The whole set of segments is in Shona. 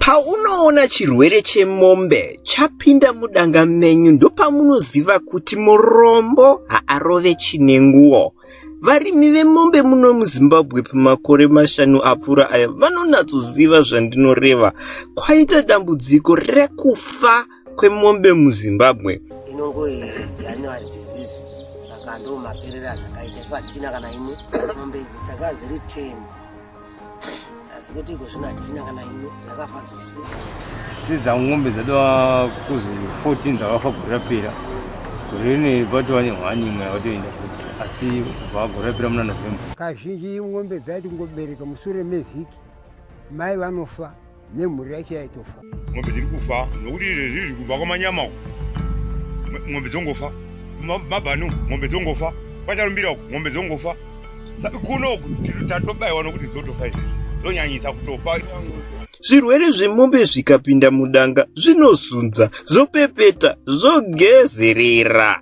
Paunoona chirwere chemombe chapinda mudanga menyu ndopamunoziva kuti murombo haarove chinenguwo. Varimi vemombe muno muZimbabwe pamakore mashanu apfuura aya vanonatsoziva zvandinoreva. Kwaita dambudziko rekufa kwemombe muZimbabwe. Inongoi January disease saka ndomaperera akaita so hatichina kana imwe mombe idzi dzakaziri 10 asi kuti iko zvino hatichina kana ino dzakafa dzose sidza ngombe dzatova kuzi 14 dzakafa gore rapera gore rine vatova nehwani imwe yavatoenda futi asi kubva gore rapera muna november kazhinji ngombe dzaiti kungobereka musure mevhiki mai vanofa nemhuri yacho yaitofa mombe dziri kufa nokuti izvezvi zvi kubva kwamanyama uku mombe dzongofa mabhanu mombe dzongofa kwatarumbira uku mombe dzongofa kuno tatobaiwa nokuti dzotofa izvezvi dzonyanyisa kutofa zvirwere zvemombe zvikapinda mudanga zvinozunza zvopepeta zvogezerera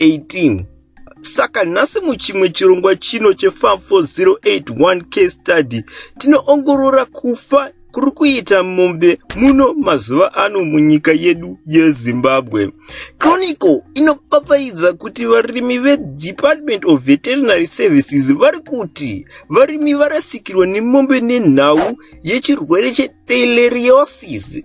18 saka nhasi muchimwe chirongwa chino chefam 4081 case study tinoongorora kufa kuri kuita mombe muno mazuva ano munyika yedu yezimbabwe chronicle inopfapfaidza kuti varimi vedepartment of veterinary services vari kuti varimi varasikirwa nemombe nenhau yechirwere chetheleriosis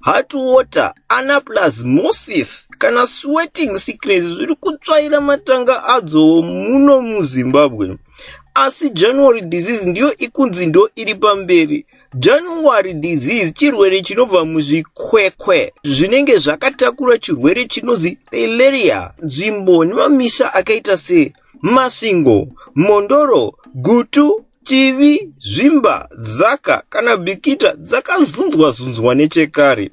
hot water ana plus moses kana sweating sickness zviri kutsvaira matanga adzowo muno muzimbabwe asi january disease ndiyo ikunzi ndo iri pamberi january disease chirwere chinobva muzvikwekwe zvinenge zvakatakura chirwere chinonzi theleria nzvimbo nemamisha akaita se Masvingo, Mhondoro, Gutu, Chivi, Zvimba, Zaka kana Bikita dzakazunzwa zunzwa nechekare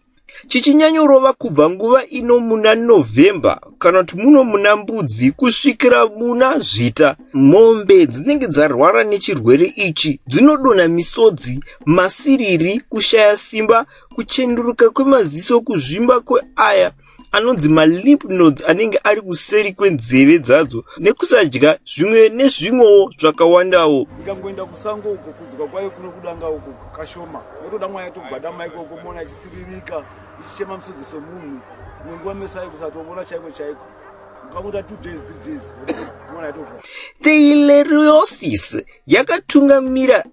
chichinyanyorova kubva nguva ino muna November kana kuti muno muna Mbudzi kusvikira muna Zvita. Mombe dzinenge dzarwara nechirwere ichi dzinodonha misodzi, masiriri, kushaya simba, kuchenduruka kwemaziso, kuzvimba kweaya, anonzi malimp nodes anenge ari kuseri kwenzeve dzadzo nekusadya zvimwe nezvimwewo zvakawandawo ikangoenda kusango uko kudzwa kwayo kunokudanga uko kashoma otoda mwaya togwadama ikoko moona achisiririka ichichema musodzi somunhu nenguva meso ayo kusatovona chaiko chaiko Theileriosis yakatungamira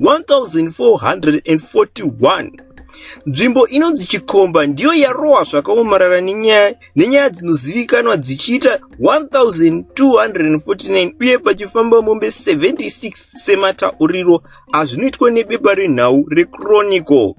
1441 nzvimbo inonzi chikomba ndiyo yarohwa zvakaomarara nenyaya nenyaya dzinozivikanwa dzichiita 1249 uye pachifamba mombe 76 sematauriro azvinoitwa nebepa renhau rechronicle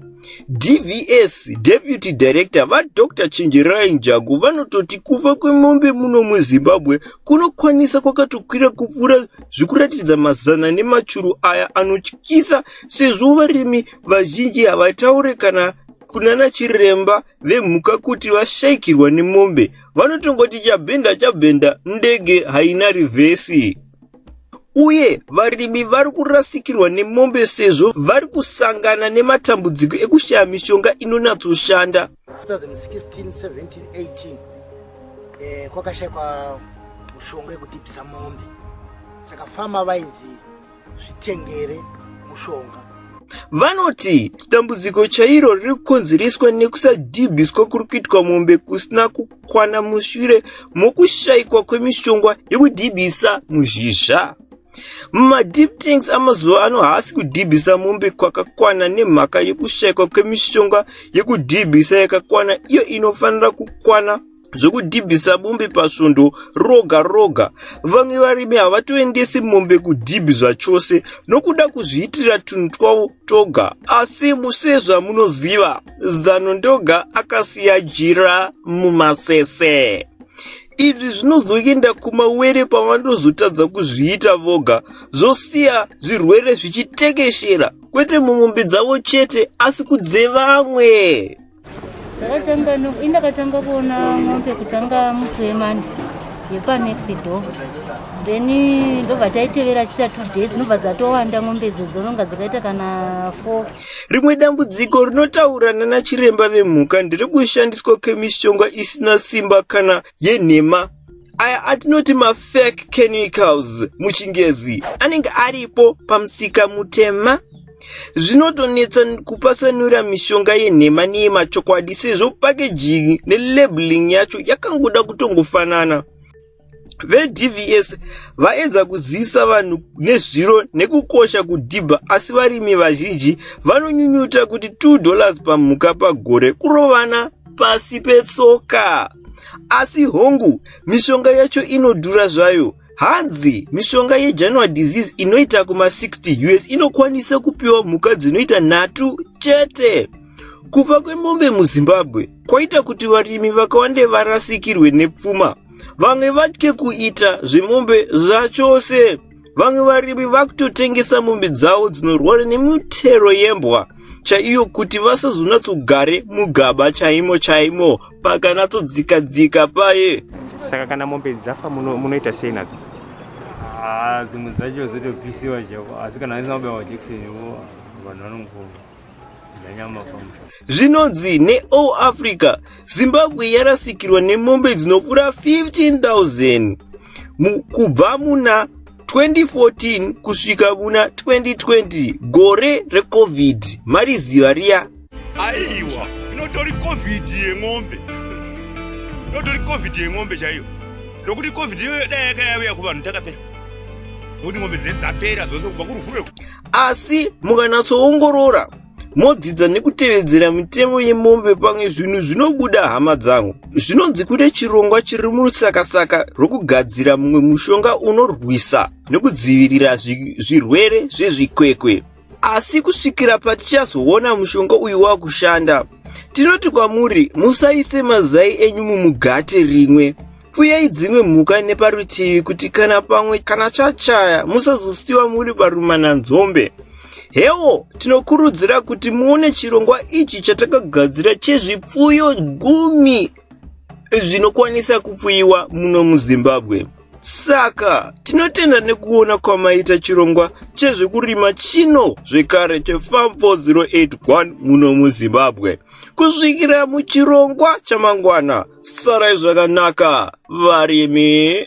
dvs deputy director vadr chenjerai njagu vanototi kufa kwemombe muno muzimbabwe kunokwanisa kwakatokwira kupfuura zvikuratiridza mazana nemachuru aya anotyisa sezvo varimi vazhinji havataure kana kunana chiremba vemhuka kuti vashaikirwa nemombe vanotongoti chabhenda chabhenda ndege haina rivhesi uye varimi vari kurasikirwa nemombe sezvo vari kusangana nematambudziko ekushaya mishonga inonatsoshanda 2016 17 18 eh, kwakashaikwa mushonga yekudibisa mombe saka fama vainzi zvitengere mushonga vanoti dambudziko chairo riri kukonzereswa nekusadhibhiswa kuri kuitwa mombe kusina kukwana mushure mokushaikwa kwemishonga yekudhibhisa muzhizha madeep things amazuva ano haasi kudhibhisa mombe kwakakwana nemhaka yekushaikwa kwemishonga yekudhibhisa yakakwana iyo inofanira kukwana zvekudhibhisa mombe pasvondo roga roga vamwe varimi havatoendesi mombe kudhibhi zvachose nokuda kuzviitira tunhu twavo toga asi musezvamunoziva zano ndoga akasiya jira mumasese izvi zvinozoenda kumawere pavanozotadza kuzviita voga zvosiya zvirwere zvichitekeshera kwete mumombe dzavo chete asi kudzevamwe zvakatanga indakatanga kuona mombe kutanga musi wemandi yepanext door then ndobva taitevera chita two days ndobva dzatowanda mombe dzo dzononga dzakaita kana four Rimwe dambudziko rinotaura nana chiremba vemhuka ndiri kushandiswa kwemishonga isina simba kana yenhema aya atinoti mafake chemicals muchingezi anenge aripo pamusika mutema zvinotonetsa kupasanura mishonga yenhema neyemachokwadi sezvo pakejingi nelabeling yacho yakangoda kutongofanana vedvs vaedza kuzivisa vanhu nezviro nekukosha kudhibha asi varimi vazhinji vanonyunyuta kuti 2 dollars pamhuka pagore kurovana pasi petsoka asi hongu mishonga yacho inodhura zvayo hanzi mishonga yejanuary disease inoita kuma60 us inokwanisa kupiwa mhuka dzinoita nhatu chete kufa kwemombe muzimbabwe kwaita kuti varimi vakawande varasikirwe nepfuma vamwe vatye kuita zvemombe zvachose vamwe varimi vakutotengesa mombe dzavo dzinorwara nemitero yembwa chaiyo kuti vasazonatsogare mugaba chaimo chaimo pakanatsodzika dzika paye saka kana mombe dzafa munoita sei nadzo ah, dzimwe dzacho dzotopisiwa chavo asi kana aisamabawa jekiseni vanhu vanongova Zvinonzi neAll Africa, Zimbabwe yarasikirwa nemombe dzinopfuura 15,000 kubva muna 2014 kusvika muna 2020 gore recovid mariziva riya aiwa inotori covid yemombe inotori covid yemombe chaiyo nokuti covid iyoyo dai yakayauya kuvanhu takapera nokuti mombe dzapera dzose kubva kurufureko asi mukanatsoongorora modzidza nekutevedzera mitemo yemombe pamwe zvinhu zvinobuda hama dzangu zvinonzi kune chirongwa chiri murutsakasaka rwokugadzira mumwe mushonga unorwisa nokudzivirira zvirwere zvezvikwekwe asi kusvikira patichazoona mushonga uyu wakushanda tinoti kwamuri musaise mazai enyu mumugate rimwe Pfuyai dzimwe mhuka neparutivi kuti kana pamwe kana chachaya musazosiwa muri parumana nzombe. Hewo, tinokurudzira kuti muone chirongwa ichi chatakagadzira chezvipfuyo gumi zvinokwanisa kupfuyiwa muno muzimbabwe saka tinotenda nekuona kwamaita chirongwa chezvekurima chino zvekare chefam 4081 muno muzimbabwe kusvikira muchirongwa chamangwana sarai zvakanaka varimi